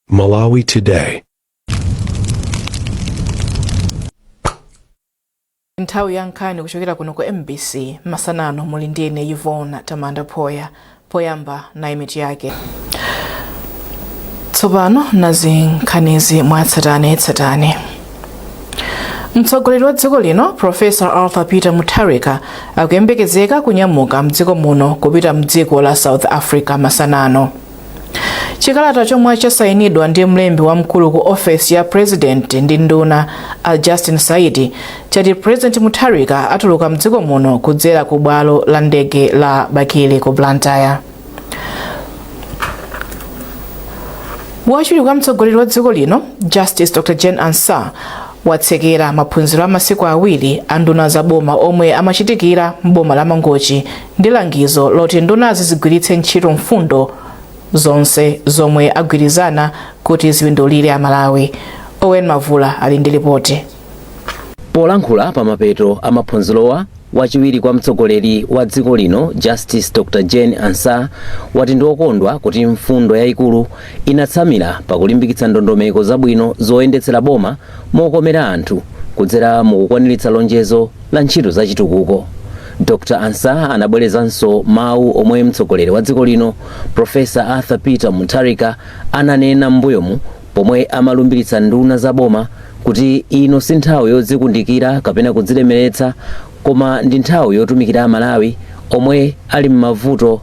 Malawi Today. nthawi ya nkhani kuchokera kuno ku mbc masana ano muli ndi ine yvonne tamanda phoya poyamba nayi mitu yake tsopano nazi nkhanizi mwatsatane tsatane mtsogoleri wa dziko lino profesa arthur peter mutharika akuyembekezeka kunyamuka mdziko muno kupita mdziko la south africa masana ano chikalata chomwe chasayinidwa ndi mlembi wamkulu ku ofesi ya president ndi nduna a justin saidi chati president mutharika atuluka mdziko muno kudzera ku bwalo la ndege la bakili ku blantyre wachiwiri kwa mtsogoleri wa dziko lino justice dr jane ansah watsekera maphunziro a masiku awiri a nduna za boma omwe amachitikira m'boma la mangochi ndi langizo loti ndunazi zigwiritse ntchito mfundo zonse zomwe agwirizana kuti zipindulire Amalawi. Owen Mavula ali ndi lipoti. Polankhula pa mapeto a maphunzirowa, wachiwiri kwa mtsogoleri wa dziko lino Justice Dr Jane Ansah wati ndi wokondwa kuti mfundo yayikulu inatsamira pakulimbikitsa ndondomeko zabwino zoyendetsera boma mokomera anthu kudzera mukukwaniritsa lonjezo la ntchito zachitukuko. Dr Ansah anabwerezanso mawu omwe mtsogoleri wa dziko lino Professor Arthur Peter Mutharika ananena m'mbuyomu pomwe amalumbiritsa nduna za boma kuti ino si nthawi yodzikundikira kapena kudzilemeretsa koma ndi nthawi yotumikira Amalawi omwe ali m'mavuto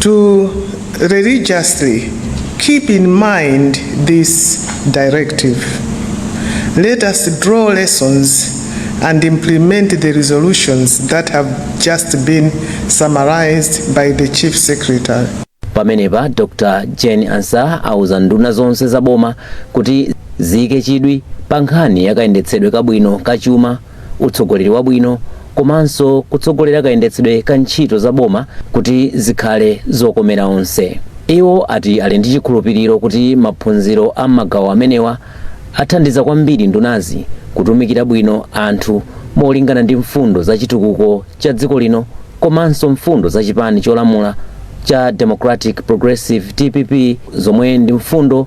to religiously keep in mind this directive. Let us draw lessons and implement the resolutions that have just been summarized by the Chief Secretary. pamenepa dr jane ansah auza nduna zonse za boma kuti ziyike chidwi pa nkhani yakayendetsedwe kabwino ka chuma utsogoleri wabwino komanso kutsogolera kayendetsedwe ka ntchito za boma kuti zikhale zokomera onse iwo ati ali ndi chikhulupiriro kuti maphunziro a magawo amenewa athandiza kwambiri ndunazi kutumikira bwino anthu molingana ndi mfundo za chitukuko cha dziko lino komanso mfundo za chipani cholamula cha democratic progressive dpp zomwe ndi mfundo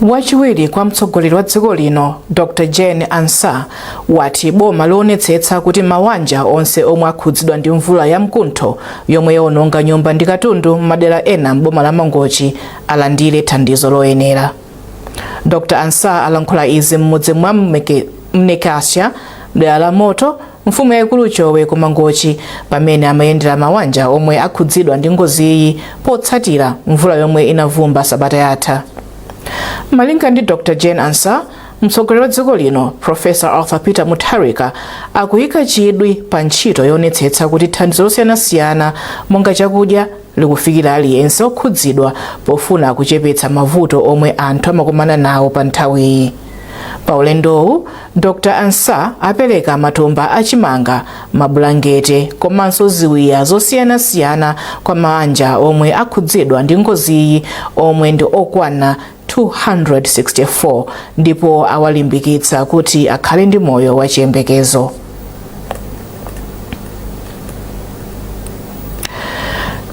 wachiwiri kwa mtsogoleri wa dziko lino dr jane ansah wati boma lionetsetsa kuti maanja onse omwe akhudzidwa ndi mvula ya mkuntho yomwe yaononga nyumba ndi katundu m'madera ena m'boma la mangochi alandire thandizo loyenera dr ansah alankhula izi m'mudzi mwa Mnekasha mdera la moto Mfumu yaikulu Chowe ku Mangochi pamene amayendera mawanja omwe akhudzidwa ndi ngoziyi potsatira mvula yomwe inavumba sabata yatha. Malinga ndi Dr Jane Ansah, mtsogoleri wa dziko lino Professor Arthur Peter Mutharika akuyika chidwi pa ntchito yoonetsetsa kuti thandizo losiyanasiyana monga chakudya, likufikira aliyense okhudzidwa pofuna kuchepetsa mavuto omwe anthu amakumana nawo pa nthawiyi pa ulendowu dr ansah apereka matumba achimanga mabulangete komanso ziwiya zosiyanasiyana kwa mawanja omwe akhudzidwa ndi ngoziyi omwe ndi okwana 264 ndipo awalimbikitsa kuti akhale ndi moyo wa chiyembekezo.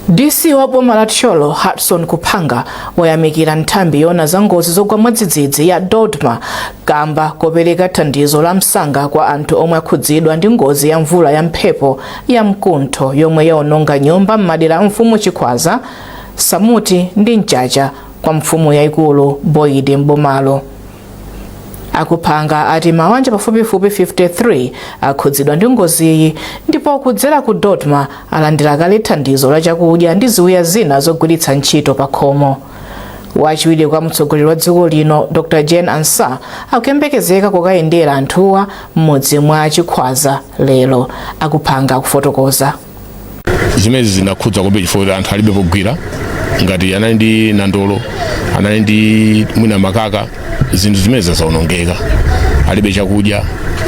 DC wa boma la Thyolo Hudson Kuphanga wayamikira nthambi yoona za ngozi zogwa mwadzidzidzi ya DoDMA kamba kopereka thandizo la msanga kwa anthu omwe akhudzidwa ndi ngozi ya mvula ya mphepo ya mkuntho yomwe yaononga nyumba m'madera a mfumu Chikhwaza, Samuti ndi Mchacha kwa mfumu yaikulu Boyidi m'bomalo. A Kuphanga ati mawanja pafupifupi 53 akhudzidwa ndi ngoziyi ndipo kudzera ku DoDMA alandira kale thandizo la chakudya ndi ziwiya zina zogwiritsa ntchito pakhomo. Wachiwiri kwa mtsogoleri wa dziko lino Dr Jane Ansah akuyembekezeka kukayendera anthuwa m'mudzi mwa Chikhwaza lero, a Kuphanga akufotokoza. zimenezi zinakhudza kwambiri chifukwa kuti anthu alibe pogwira ngati anali ndi nandolo anali ndi mwina makaka zinthu zimenezi zaonongeka alibe chakudya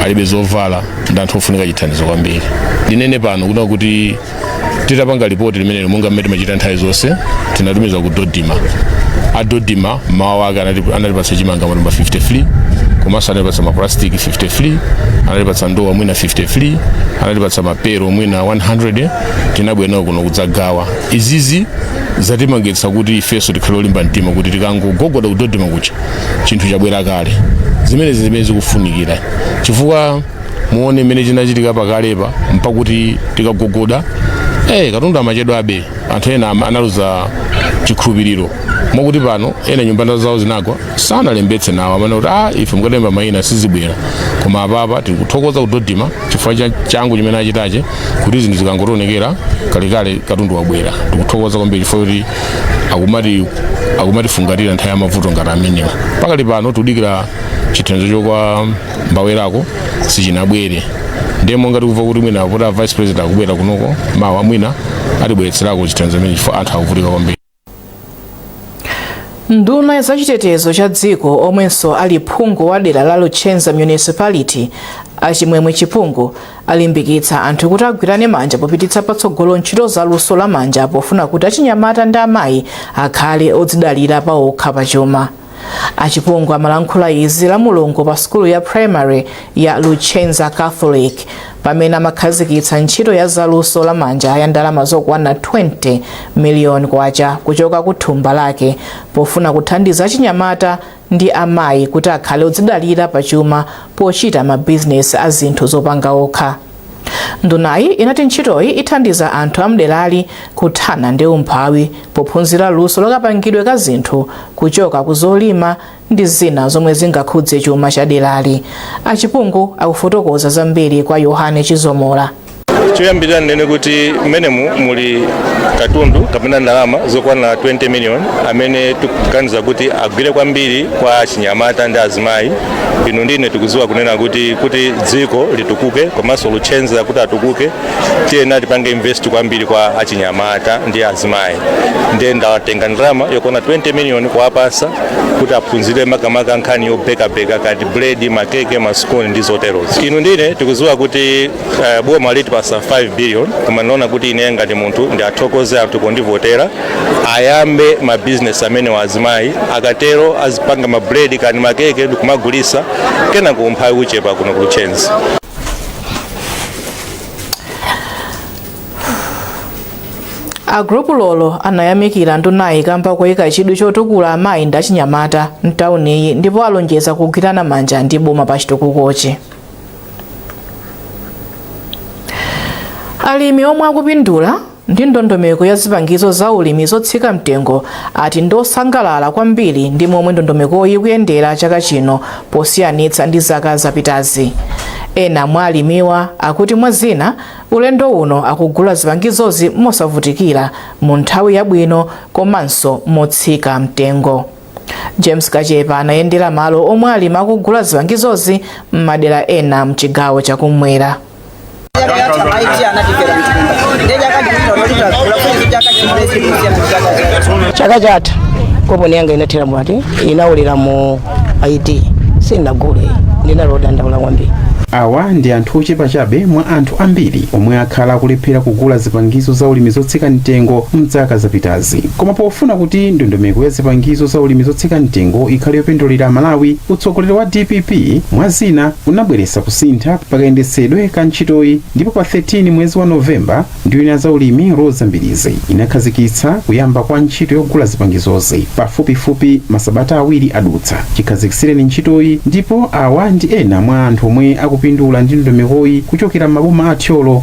alibe zovala ndi anthu ofunika chithandizo kwambiri ndinene pano kunena kuti titapanga lipoti limenelo monga mmene timachita nthawi zonse tinatumiza ku DoDMA a DoDMA mawa lake anati- anatipatsa chimanga matumba 53 komanso anatipatsa mapulastiki 53 anatipatsa ndowa mwina 53 anatipatsa mapelo mapepala mwina 100 tinabwera nawo kuno kudzagawa izizi zatipangitsa kuti ifenso tikhale olimba mtima kuti tikangogogoda ku DoDMA kuja chinthu chabwera kale zimenezi zimene zikufunikira chifukwa muone mmene chinachitika pakalepa n'kuti tikagogoda eh katundu amachedwa ndiye anthu ena ama- analuza chikhulupiriro mokuti pano ena nyumba zawo zinagwa sanalembetse nawo amati ah ife mukalemba mayina sizibwera koma apapa tikuthokoza ku DoDMA chifukwa cha changu chimene achitachi kuti zinthu zikangotionekera kalekale katundu wabwera tikuthokoza kwambiri chifukwa kuti akumati akumatifungatira nthawi ya mavuto ngati amenewa pakali pano tikudikira chithandizo chochoka m'mwambamo sichinabwere ndiye monga tikuva kuti mwina kuti a vice president akubwera kunoko mawa mwina atibweretserako chithandizo chimene chifukwa anthu akuvutika kwambiri nduna ya zachitetezo cha dziko omwenso ali phungu wa dera la luchenza municipality achimwemwe chipungu alimbikitsa anthu kuti agwirane manja popititsa patsogolo ntchito za luso la manja pofuna kuti achinyamata ndi amayi akhale odzidalira pa okha pachuma achipungu amalankhula izi la mulungu pa sukulu ya primary ya luchenza catholic pamene amakhazikitsa ntchito ya zaluso la manja ya ndalama zokwana 20 miliyoni kwacha kuchoka ku thumba lake pofuna kuthandiza achinyamata ndi amayi kuti akhale odzidalira pa chuma pochita mabizinesi a zinthu zopanga okha Ndunayi inati ntchitoyi ithandiza anthu amderali kuthana ndi umphawi pophunzira luso la kapangidwe ka zinthu kuchoka ku zolima ndi zina zomwe zingakuze chuma cha derali. A Chipungu akufotokoza zambiri kwa Yohane Chizomola. choyambirira ndinene kuti mmenemu muli katundu kapena ndalama zokwana 20 miliyoni amene tikuganiza kuti agwire kwambiri kwa achinyamata ndi azimayi inu ndine tikudziwa kunena kuti kuti dziko litukuke komanso Luchenza kuti atukuke tiyenera tipange invest kwambiri kwa achinyamata ndi azimayi ndiye ndawatenga ndalama yokwana 20 million kuwapasa kuti aphunzire makamaka nkhani yobekabeka kati buledi makeke masikoni ndi zoterozo inu ndine tikudziwa kuti Eh, boma litipasa 5 billion koma ndinaona kuti ine ngati munthu ndiathokoze anthu pondivotera ayambe mabizinesi amenewa azimayi akatero azipanga mabuledi kani makeke ndikumagulisa kenaka umphawi uchepa kuno ku Luchenza a gulupu lolo anayamikira ndunayi kamba koyika chidwi chotukula amayi ndi achinyamata mtawuniyi ndipo alonjeza kugwirana manja ndi boma pa chitukukochi alimi omwe akupindula ndi ndondomeko ya zipangizo za ulimi zotsika mtengo ati ndosangalala kwambiri ndi momwe ndondomekoyi ikuyendera chaka chino posiyanitsa ndi zaka zapitazi ena mwa alimiwa akuti mwa zina ulendo uno akugula zipangizozi mosavutikira mu nthawi yabwino komanso motsika mtengo james kachepa anayendera malo omwe alimi akugula zipangizozi m'madera ena mchigawo chakumwera chaka chatha koponi yanga inathera amati inaulukira mu IT sinagule ndinali wodandaula kwambiri awa ndi anthu ochepa chabe mwa anthu ambiri omwe akhala akulephera kugula zipangizo za ulimi zotsika mtengo mdzaka zapitazi lapansi. Koma pofuna kuti ndondomeko ya zipangizo za ulimi zotsika mtengo ikhale yopindulira Amalawi, utsogoleri wa dpp mwa zina unabweretsa kusintha pakayendetsedwe ka ntchitoyi ndipo pa 13 mwezi wa November nduna ya za ulimi Roza Mbilizi inakhazikitsa kuyamba kwa ntchito yogula zipangizozi pafupifupi masabata awiri adutsa chikhazikitsireni ntchitoyi ndipo awa ndi ena mwa anthu omwe akupindula ndi ndondomekoyi kuchokera m'maboma a Thyolo,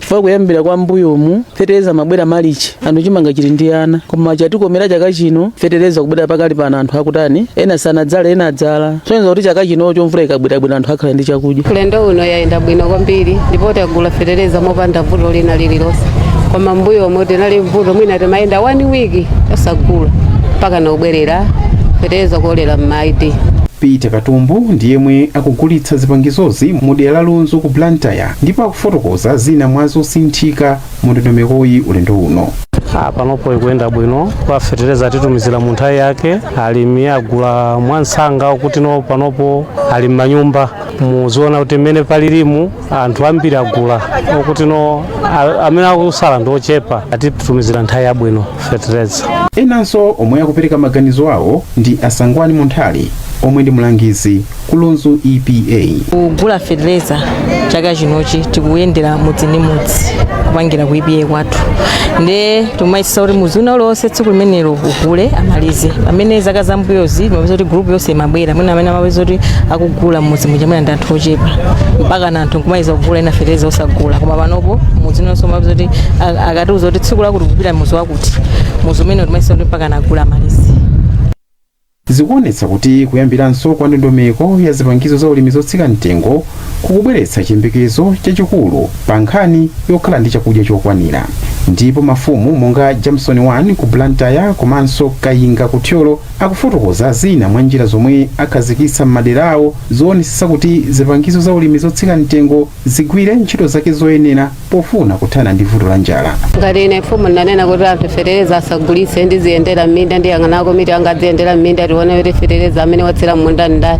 chifukwa kuyambira kwa mbuyomu fetereza amabwera malichi anthu chimanga chili ndi ana koma chatikomera chaka chino fetereza kubwera pakali pano anthu akutani ena sanadzala ena adzala kusonyeza kuti chaka chinocho mvula ikabwerabwera anthu akhala ndi chakudya ulendo uno yayenda bwino kwambiri ndipo tagula fetereza mopanda vuto lina lililonse koma mbuyomu tinali vuto mwina timayenda 1 wiki osagula mpaka nobwerera fetereza kuolera m'madeti Peter Katumbu ndi yemwe akugulitsa zipangizozi mu dera la Lunzu ku Blantyre ndipo akufotokoza zina mwa zosinthika mu ndondomekoyi ulendo uno Ah, panopo ikuyenda bwino kwa fetereza atitumizira mu nthawi yake alimi agula mwansanga kuti no panopo ali m'manyumba muziona kuti mmene palilimu anthu ambiri agula okuti no a- amene akusala ndi ochepa atitumizira nthawi yabwino fetereza enanso omwe akupereka maganizo awo ndi asangwani munthali omwe ndi mlangizi ku lunzu epa kugula fetereza chaka chinochi tikuyendera mudzi ndi mudzi kupangila ku EPA kwathu nde timayesesa kuti mudzi wina uliwonse tsiku limenelo ugule amalize pamene zaka zambuyozi timapeza kuti group yonse imabwera mwina amene amapeza kuti akugula mudzi muja mwina ndi anthu ochepa mpakana anthu nkumaliza kugula ena fetereza osagula koma panopo mudzi wonse timapeza kuti a- akatiuza kuti tsiku lakuti kupita mudzi wakuti mudzi umenewo timayesesa kuti mpakana agule amalize Zikuonetsa kuti kuyambiranso kwa ndondomeko ya zipangizo za ulimi zotsika mtengo kukubweretsa chiyembekezo chachikulu pa nkhani yokhala ndi chakudya chokwanira ndipo mafumu monga Jamson 1 ku Blantyre komanso Kayinga ku Thyolo akufotokoza zina mwa njira zomwe akhazikitsa m'madera awo zoonesesa kuti zipangizo za ulimi zotsika mtengo zigwire ntchito zake zoyenera pofuna kuthana ndi vuto la njala. ngati ine mfumu ndinanena kuti anthu fetereza asagulitse ndiziyendera m'minda ndiyang'ana komiti anga aziyendera m'minda tione kuti fetereza amene watsira m'munda ndani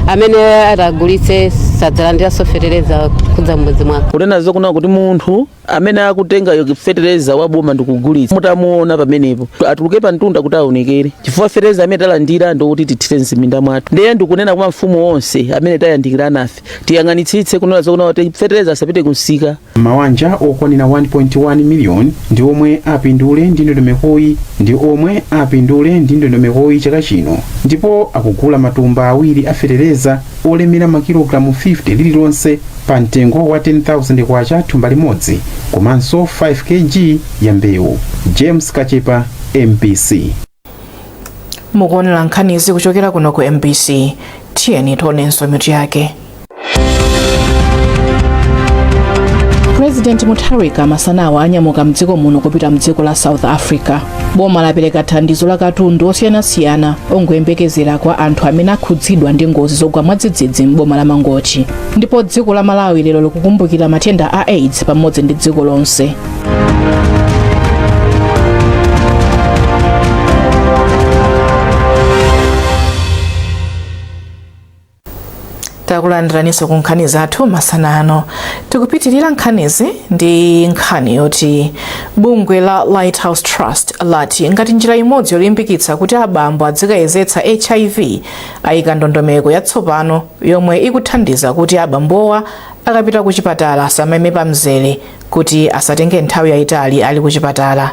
amene atagulitse sadzalandiranso fetereza kudza m'mudzi mwako kunena zokuti munthu Amene akutenga fetereza wa boma ndikugulitsa mutamuona pamenepo atuluke pa mtunda kuti aonekere, chifukwa fetereza amene talandira ndi wokuti tithire m'ziminda mwathu. Ndiye ndikunena kwa mafumu onse amene tayandikirana nafe, tiyang'anitsitse kunena zokuti fetereza asapite kumsika. Mawanja okwanira 1.1 miliyoni ndi omwe apindule ndi ndondomekoyi ndi omwe apindule ndi ndondomekoyi chaka chino ndipo akugula matumba awiri a fetereza olemera makilogalamu 50 lililonse pa mtengo wa 10,000 kwacha thumba limodzi komanso 5 kg ya mbewu. James Kachepa, MBC. mukuonera nkhanizi kuchokera kuno ku mbc tiyeni tionenso mitu yake purezidenti mutharika masanawa anyamuka mdziko muno kupita mdziko la south africa boma lapereka thandizo la katundu osiyanasiyana ongoyembekezera kwa anthu amene akhudzidwa ndi ngozi zogwa mwadzidzidzi m'boma la mangochi ndipo dziko la malawi lero likukumbukira matenda a aids pamodzi ndi dziko lonse takulandiraniso ku nkhani zathu masana ano tikupitirira nkhanizi ndi nkhani yoti bungwe la lighthouse trust lati ngati njira imodzi yolimbikitsa kuti abambo adzikayezetsa hiv ayika ndondomeko yatsopano yomwe ikuthandiza kuti abambowa akapita ku chipatala asamaime pa mzere kuti asatenge nthawi yayitali ali ku chipatala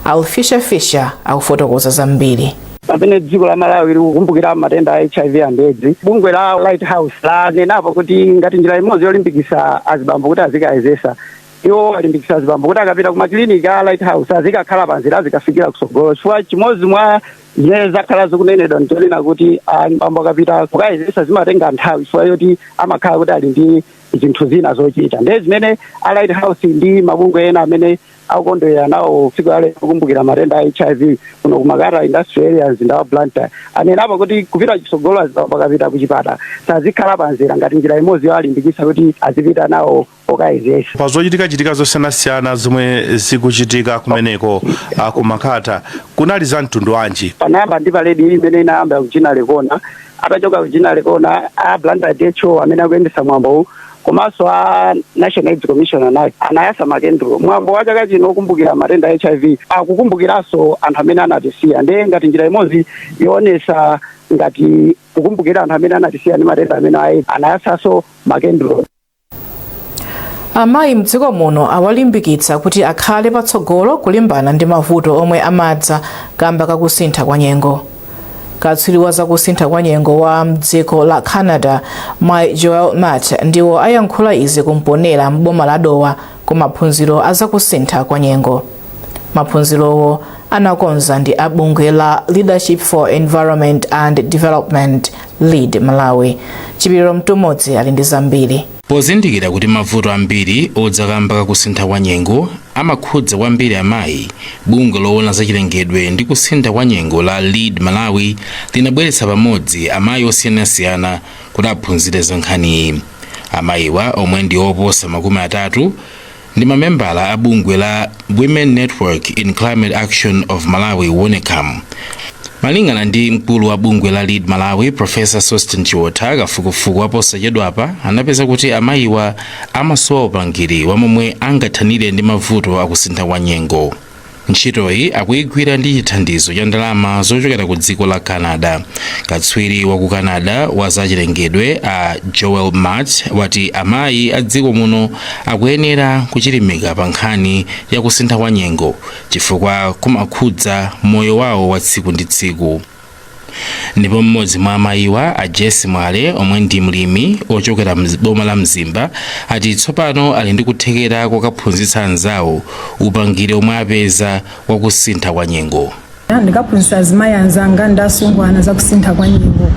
alfisha fisha akufotokoza zambiri Pamene dziko la Malawi likukumbukira matenda a HIV and Edzi, bungwe la Light House lanenapo kuti ngati njira imodzi yolimbikisa azibambo kuti azikayezesa, iwo alimbikisa azibambo kuti akapita kumakiliniki a Light House asazikakhala pamzere azikafikira kusogolo chifukwa chimodzi mwa zimene zakhala zikunenedwa ndichonena kuti azibambo akapita kukayezesa zimatenga nthawi chifukwa yoti amakhala kuti ali ndi zinthu zina zochita ndiye zimene a Light House ndi mabungwe ena amene akukondwera nawo tsiku la lero kukumbukira matenda a hiv kuno ku makata industrial area mzinda wa blantyre anenapo kuti kupita chitsogolo azibambo akapita kuchipatala sazikhala pamzere ngati njira imodzi yowalimbikitsa kuti azipita nawo kukayezesa pa zochitikachitika zosiyanasiyana zomwe zikuchitika kumeneko ah, ku makata kunali za mtundu wanji panayamba ndi paledi imene inayambira ku ginnery corner atachoka ku ginnery corner a blantyre dho amene akuyendesa mwambowu komanso a national aids commission anayi anayasa makendulo mwambo wa chaka chino okumbukira matenda a hiv akukumbukiranso anthu amene anatisiya ndiye ngati njira imodzi yoonesa ngati kukumbukira anthu amene anatisiya ndi matenda a edzi anayasanso makendulo amayi mdziko muno awalimbikitsa kuti akhale patsogolo kulimbana ndi mavuto omwe amadza kamba kakusintha kwa nyengo katswiri wa zakusintha kwa nyengo wa mdziko la canada mayi joel mat ndiwo ayankhula izi ku mponela m'boma la dowa ku maphunziro a zakusintha kwa nyengo maphunzirowo anakonza ndi a bungwe la leadership for environment and development lead malawi chipiliro mtumodzi ali ndi zambiri pozindikira kuti mavuto ambiri odza kamba kakusintha kwa nyengo amakhudza kwambiri amayi, bungwe loona za chilengedwe ndi kusintha kwa nyengo la Lead Malawi linabweretsa pamodzi amayi osiyanasiyana kuti aphunzire za nkhaniyi. Amayiwa omwe ndi oposa makumi atatu, ndi mamembala a bungwe la Women Network in Climate Action of Malawi, Wonecam. Malingana ndi mkulu wa bungwe la Lead Malawi, Professor Sosten Chiotha, kafukufuku waposachedwapa anapeza kuti amayiwa amasowa upangiri wa momwe angathanire ndi mavuto akusintha kwa nyengo ntchitoyi akuyigwira ndi chithandizo cha ndalama zochokera ku dziko la canada katswiri wa ku canada wa zachilengedwe a joel matt wati amayi a dziko muno akuyenera kuchilimika pa nkhani ya kusintha kwa nyengo chifukwa kumakhudza moyo wawo wa tsiku ndi tsiku ndipo mmodzi mwa amayiwa a Jesse Mwale omwe ndi mlimi ochokera mboma la Mzimba ati tsopano ali ndi kuthekera kokaphunzitsa anzawo upangiri omwe apeza wakusintha kwa nyengo ndikaphunzisa azimayi anzanga ndi asungwana za kusintha kwa nyengo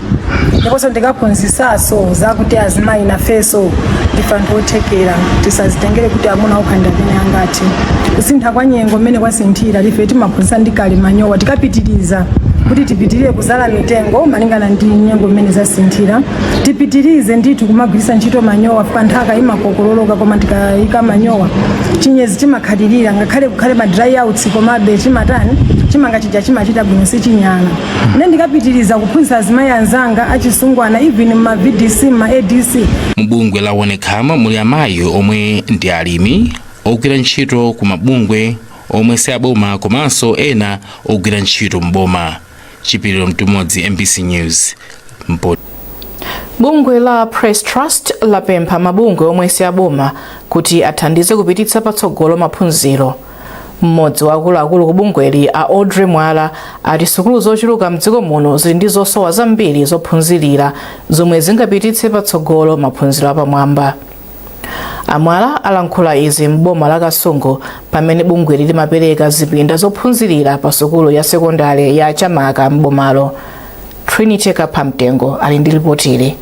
ndiponso ndikaphunzisaso zakuti azimayi nafeso ndife anthu othekera tisazitengere kuti amuna okha ndi amene angati kusintha kwa nyengo mmene kwasinthira ife timaphunzitsa ndi kale manyowa tikapitiriza kuti tipitirire kuzala mitengo malingana ndi nyengo mmene zasinthira tipitirize ndithu kumagwiritsa ntchito manyowa chifukwa nthaka imakokololoka koma tikayika manyowa chinyezi chimakhalirira ngakhale kukhale ma dry outs komabe chimatani chimanga chija chimachita bwino sichinyala ine ndikapitiriza kuphunzitsa azimayi anzanga achisungwana even mma vdc mma adc mubungwe la wonecam muli amayi omwe ndi alimi ogwira ntchito ku mabungwe omwe si aboma komanso ena ogwira ntchito m'boma chipiliro mtumodzi mbc news bungwe la press trust lapempha mabungwe omwe si aboma kuti athandize kupititsa patsogolo maphunziro mmodzi wa akuluakulu ku bungweli a audrey mwala ati sukulu zochuluka mdziko muno zili ndi zosowa zambiri zophunzirira zomwe zingapititse patsogolo maphunziro apamwamba A Mwala alankhula izi m'boma la Kasungu pamene bungweli limapereka zipinda zophunzirira pa sukulu ya sekondale ya Chamaka m'bomalo. Trinity Kaphamtengo ali ndi lipotili.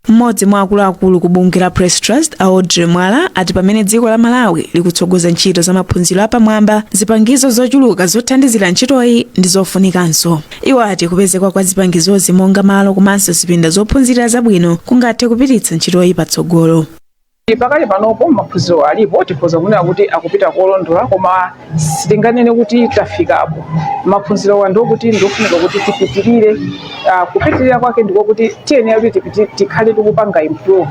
Mmodzi mwa akuluakulu ku bungwe la Press Trust a Audrey Mwala ati pamene dziko la Malawi likutsogoza ntchito za maphunziro apamwamba, zipangizo zochuluka zothandizira ntchitoyi ndi zofunikanso. Iwo ati kupezeka kwa zipangizozi monga malo komanso zipinda zophunzirira zabwino kungathe kupititsa ntchitoyi patsogolo. Pakali panopo maphunziro alipo tikhoza kunena kuti akupita kolondola koma sitinganene kuti tafikapo. Maphunzirowa ndiokuti ndiofunika kuti tipitirire, ah, kupitirira kwake ndikokuti tiyenera kuti tipiti- tikhale tikupanga improve.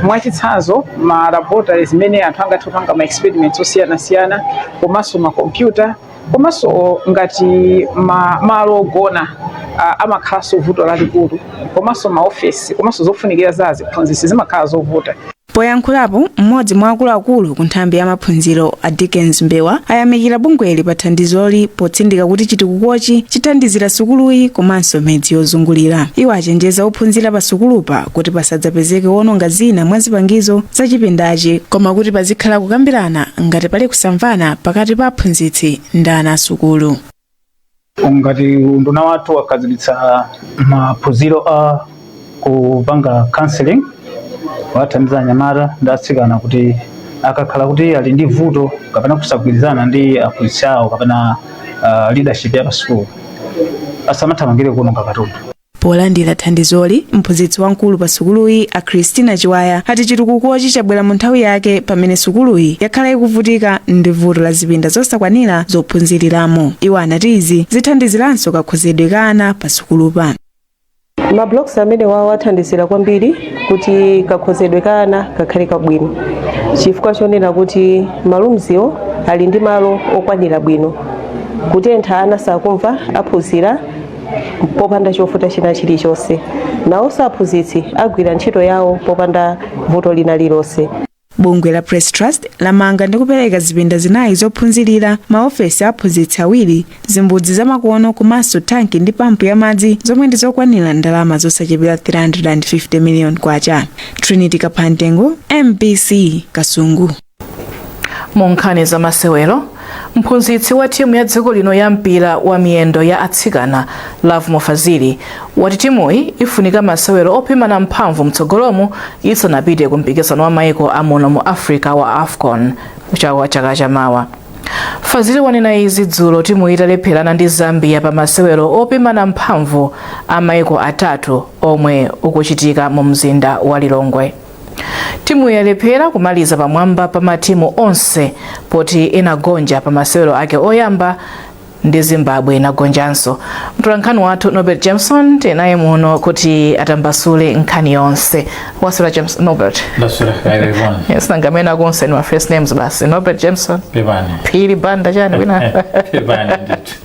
Mwachitsanzo ma laboratories zimene anthu angathe kupanga ma experiments osiyanasiyana komanso ma computer. komanso ngati ma, malo ogona uh, amakhalanso vuto lalikulu komanso maofesi komanso zofunikira za aziphunzitsi zimakhala zovuta poyankhulapo mmodzi mwa akuluakulu ku nthambi ya maphunziro a dickens mbewa ayamikira bungweli pa thandizoli potsindika kuti chitukukochi chithandizira sukuluyi komanso midzi yozungulira iwo achenjeza ophunzira pa sukulupa kuti pasadzapezeke wononga zina mwa zipangizo za chipindachi koma kuti pazikhala kukambirana ngati pali kusamvana pakati pa aphunzitsi ndi ana asukulu ngati unduna wathu wakhazikitsa maphunziro a kupanga counseling kuwathandiza anyamata ndi atsikana kuti akakhala kuti ali ndi vuto kapena kusagwirizana ndi aphunzitsi awo kapena uh, leadership ya pasukulu asamathamangire kuononga katundu Polandira thandizoli, mphunzitsi wamkulu pa sukuluyi a Christina Chiwaya ati chitukukochi chabwera mu nthawi yake pamene sukuluyi yakhala ikuvutika ndi vuto la zipinda zosakwanira zophunziriramo. Iwo anati izi zithandiziranso kakhozedwe ka ana pa sukulupa. Ma blocks amenewa athandizira kwambiri kuti kakhozedwe ka ana kakhale kabwino chifukwa chonena kuti ma roomswo ali ndi malo okwanira bwino kutentha ana sakumva aphunzira popanda chovuta china chilichonse. Nawonso aphunzitsi agwira ntchito yawo popanda vuto lina lilonse. bungwe la press trust lamanga ndi kupereka zipinda zinayi zophunzirira maofesi a aphunzitsi awiri zimbudzi zamakono komanso tanki ndi pampu ya madzi zomwe ndi zokwanira ndalama zosachepera 350 million kwacha trinity kaphantengo mbc kasungu mu nkhani za masewero mphunzitsi wa timu ya dziko lino ya mpira wa miyendo ya atsikana lovemore fazili wati timuyi ifunika masewero opimana mphamvu mtsogolomu isanapite ku mpikisano wa maiko amuno mu africa wa wafcon wa chaka chamawa fazili wanena izi dzulo timuyi italepherana ndi zambia pa masewero opimana mphamvu a maiko atatu omwe ukuchitika mu mzinda wa lilongwe Timu yalephera kumaliza pamwamba pa matimu onse poti inagonja pa masewero ake oyamba ndi Zimbabwe inagonjanso. Mtolankhani wathu Norbert Jameson tinaye muno kuti atambasule nkhani yonse. Waswera James Norbert. Ndasula kaire bwana. Yes, nanga maina ako onse ndi ma first names basi. Norbert Jameson. Pepani. Phiri Banda chani wina. Pepani ndithu.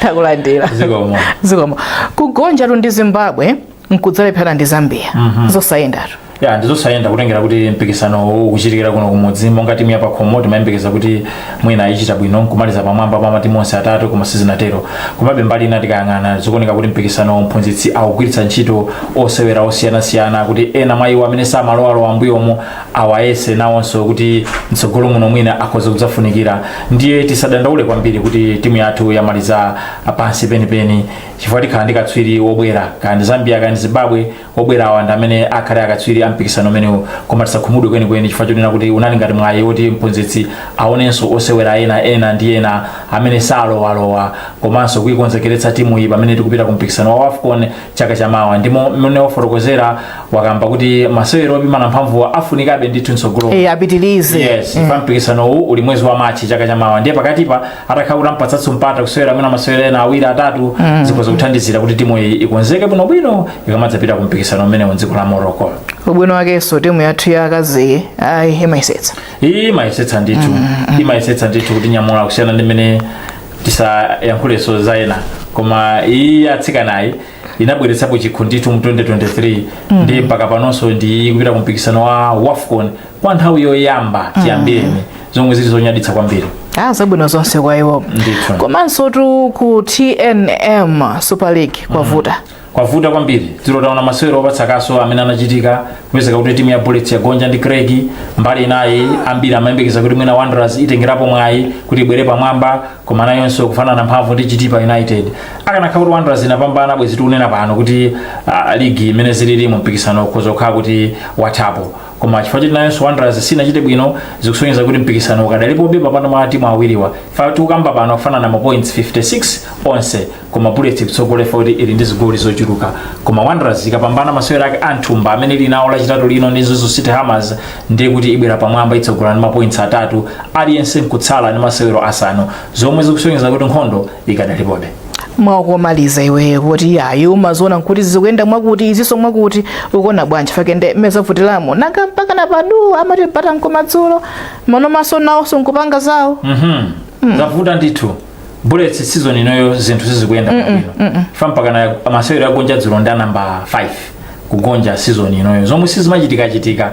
Takulandira. Zikomo. Zikomo. Kugonjatu ndi Zimbabwe nkudzalephera ndi zambia zosayendatu ya ndi zosayenda kutengera kuti mpikisano uwu ukuchitikira kuno kumudzi monga timu yapakhomo timayembekeza kuti mwina ichita bwino nkumaliza pamwamba pa matimu onse atatu koma sizinatero komabe mbali ina tikayang'ana zikuoneka kuti mpikisanowu mphunzitsi akugwiritsa ntchito osewera osiyanasiyana kuti ena mwa iwo amene samalowalowa m'mbuyomu awayese nawonso kuti mtsogolo muno mwina akhoza kudzafunikira ndiye tisadandaule kwambiri kuti timu yathu yamaliza pansi penipeni chifukwa tikhala ndi katswiri wobwera kaya ndi zambia kaya ndi zimbabwe obwera awa ndi amene akhale akatswiri a mpikisano umenewu koma tisakhumudwe kwenikweni chifukwa chonena kuti unali ngati mwayi woti mphunzitsi aonenso osewera ena ndi ena amene salowalowa komanso kuikonzekeretsa timu iyi pamene tikupita ku mpikisano wa wafcon chaka chamawa ndi momwe wafotokozera wakamba kuti masewero opimana mphamvuwa afunikabe ndithu mtsogolo Eh, apitilize yes pa mpikisano uwu uli mwezi wa March chaka chamawa ndiye pakatipa atakhala kuti ampatsanso mpata kusewera mwina masewero ena awiri atatu zikhoza kuthandizira kuti timu iyi ikonzeke bwinobwino ikamadzapita ku mpikisano umenewu mdziko la morocco ubwino wakenso timu yathu ya akaziyi imayesetsa iyi imayesetsa ndithu imayesetsa ndithu kutinyamula kusiyana ndi mmene tisayankhulenso za ena koma iyi atsikanayi inabweretsapo chikho ndithu mu 2023 ndi mpaka panonso ndi kupita ku mpikisano wa wafcon kwa nthawi yoyamba chiyambireni zomwe zili zonyaditsa kwambiri ah zabwino zonse kwa iwo Ndithu. komansotu ku tnm super league kwavuta kwavuta kwambiri dzulo taona masewero opatsa kaso amene anachitika kupezeka kuti timu ya bullets yagonja ndi Creck mbali inayi ambiri amayembekeza kuti mwina wanderers itengerapo mwayi kuti ibwere pamwamba koma nayonso kufanana mphamvu ndi chitipa united akanakhala kuti wanderers inapambana bwezi tikunena pano kuti ah, ligi mmene zilili mu mpikisano ukhoza kukhala kuti wathapo koma chifukwa choti nayonso wanderers sinachite bwino zikusonyeza kuti mpikisano ukadalipobe pakati pa matimu awiriwa chifukwa tikukamba pano akufanana ma points 56 onse koma bullets ikutsogolera kuti ili ndi zigoli zochuluka koma wanderers ikapambana masewero ake a m'thumba amene ili nawo lachitatu lino ndi mzuzu city hammers ndiye kuti ibwera pamwamba itsogola ndi mapoints atatu aliyense nkutsala ndi masewero asanu zomwe zikusonyeza kuti nkhondo ikadalipobe mwaukomaliza iweyo poti ya inu mumaziona nkuti zikuyenda mwakuti izinso mwakuti ukuona bwanji pakeni nde mmene zavutiramo nanga mpakana paja amati mpata nkomadzulo manoma nawonso nkupanga zawo Mhm. zavuta ndithu bullets season inoyo zinthu sizikuyenda bwino mpakana masewero agonja dzulo ndi a nambala 5 kugonja season inoyo zomwe sizimachitikachitika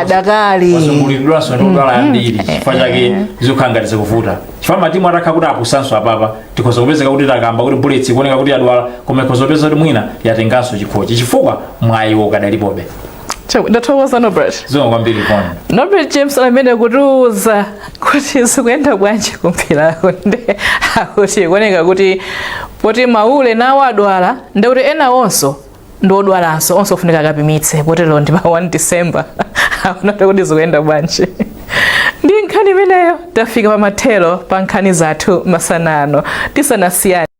adakali wazungulidwanso ndi odwala ambiri chifukwa chake zikukhala ngati zikuvuta chifukwa matimu atakhala kuti apusanso apapa tikhoza kupezeka kuti takamba kuti bullets ikuoneka kuti yadwala koma ikhoza kupeza kuti mwina yatenganso chikhochi chifukwa mwayiwo ukadalipobe Chabwino, ndathokoza norbert zikomo kwambiri pano norbert james ameneyo kutiuza kuti zikuyenda bwanji kumpirako nde akuti kuoneka kuti poti maule nawo adwala ndekuti ena onso ndi odwalanso onse afunika akapimitse potero ndi pa 1 december akaonetu kuti zikuyenda bwanji ndi nkhani imeneyo tafika pa mathero pa nkhani zathu masana ano tisanasiyane